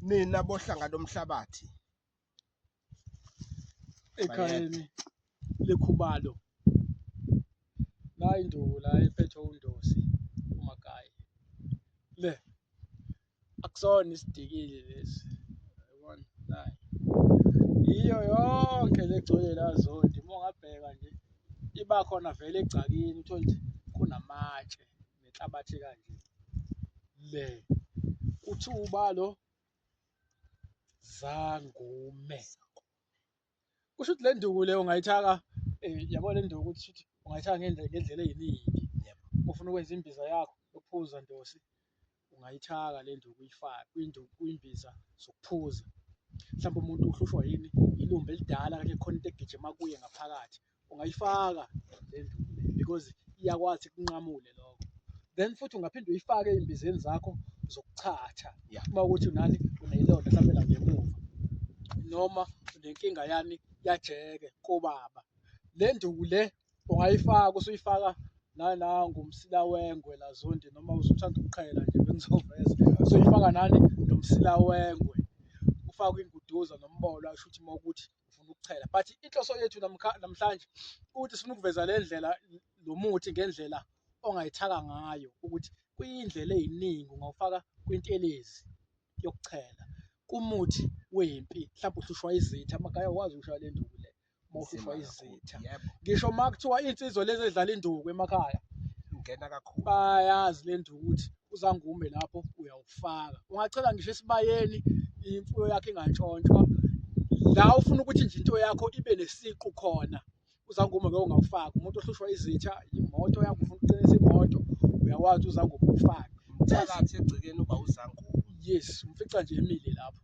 nina bohlanga lomhlabathi ekhayeni lekhubalo la induku la ephethwe undosi umagayi le akusona isidikile lesi yabona nayi yiyo yonke legcwele la zondi uma ungabheka nje iba khona vele egcakini uthole ukuthi kunamatshe nenhlabathi kanje le kuthiwa ubalo zangume kusho ukuthi le nduku le ungayithaka eh, yabo le nduku ukuthi shuthi ungayithaka ngendlela ngendlela eyiningi Yebo. uma ufuna ukwenza imbiza yakho yokuphuza ndosi ungayithaka le nduku uyifake kwinduku kwimbiza zokuphuza mhlawumbe umuntu uhlushwa yini ilumbe elidala kanye khona into egijima kuye ngaphakathi ungayifaka le nduku le because iyakwazi kunqamule lokho then futhi ungaphinde uyifake ey'mbizeni zakho zokuchatha Yeah. uma ukuthi unani uneyilonda mhlawumbe la ngemuva noma unenkinga yani yajeke kobaba le nduku le ungayifaka usuyifaka nana ngomsila wengwe lazondi noma usuthanda ukuqhela nje bengizoveza usuyifaka nani nomsila wengwe ufakwe inguduza nombola asho ukuthi uma ukuthi ufuna ukuchela but inhloso yethu namhlanje ukuthi sifuna ukuveza le ndlela lo muthi ngendlela ongayithaka ngayo ukuthi kuyindlela eyiningi ungawufaka kwintelezi yokuchela kumuthi wempi mhlawumbe uhlushwa izitha amagaya wazi ukushawa le nduku le uma uhlushwa izitha ngisho uma kuthiwa iy'nsizwa lezi edlala induku emakhaya ungena kakhulu bayazi le nduku ukuthi uzangume lapho uyawufaka ungachela ngisho esibayeni imfuyo yakho ingantshontshwa la ufuna ukuthi nje into yakho ibe nesiqu khona uzangume ke ungawufaki umuntu ohlushwa izitha imoto yakho ufuna ukuqinisa imoto uyawazi uzangume ufake phakathi egcekeni uba uzangume yes umfica nje emile lapho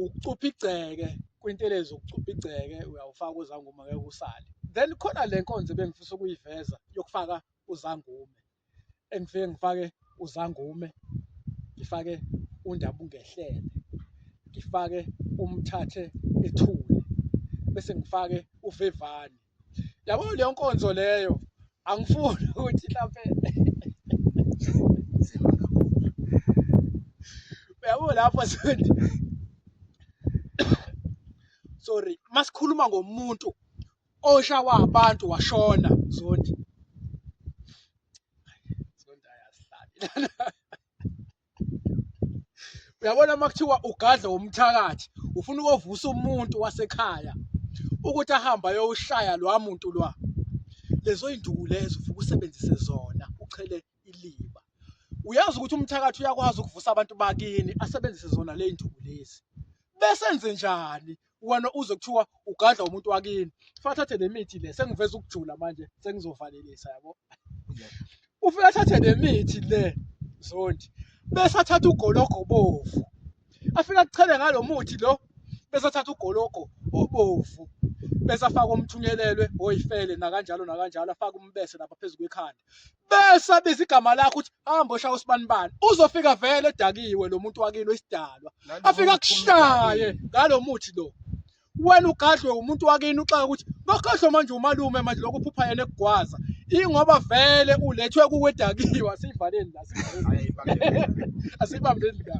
ukucupha igceke kwintelezi ukucupha igceke uyawufaka uzangume ngeke usale then khona le nkonzo ebengifisa ukuyiveza yokufaka uzangume engifike ngifake uzangume ngifake undaba ungehlele ngifake umthathe ethule bese ngifake uvevane yabo leyo nkonzo leyo angifuni ukuthi mhlampe yabo lapho sondi sorry masikhuluma ngomuntu oshawa abantu washona zondi zondi ayazihlabela uyabona uma kuthiwa ugadle womthakathi ufuna ukovusa umuntu wasekhaya ukuthi ahambe ayoshaya lwa muntu lwa lezo induku lezo ufuke usebenzise zona uchele iliba uyazi ukuthi umthakathi uyakwazi ukuvusa abantu bakini asebenzise zona le nduku lezi bese enze njani wena uze kuthiwa ugadla umuntu wakini fathathe le mithi le sengiveza ukujula manje sengizovalelisa yabo ufika athathe le mithi le zondi bese athatha ugologo obovu afika kuchele ngalo muthi lo bese athatha ugologo obovu bese afaka umthunyelelwe oyifele nakanjalo nakanjalo afaka umbese lapha phezu kwekhanda bese abiza igama lakho ukuthi hamba oshaya usibanibani uzofika vele edakiwe lo muntu wakilo isidalwa afika kushaye ngalo muthi lo wena ugadlwe umuntu wakini uxaka ukuthi bakhohlwe manje umalume manje lokho uphupha yena ekugwaza ingoba vele ulethwe kuwedakiwe asiyivaleni la asiyibambeni la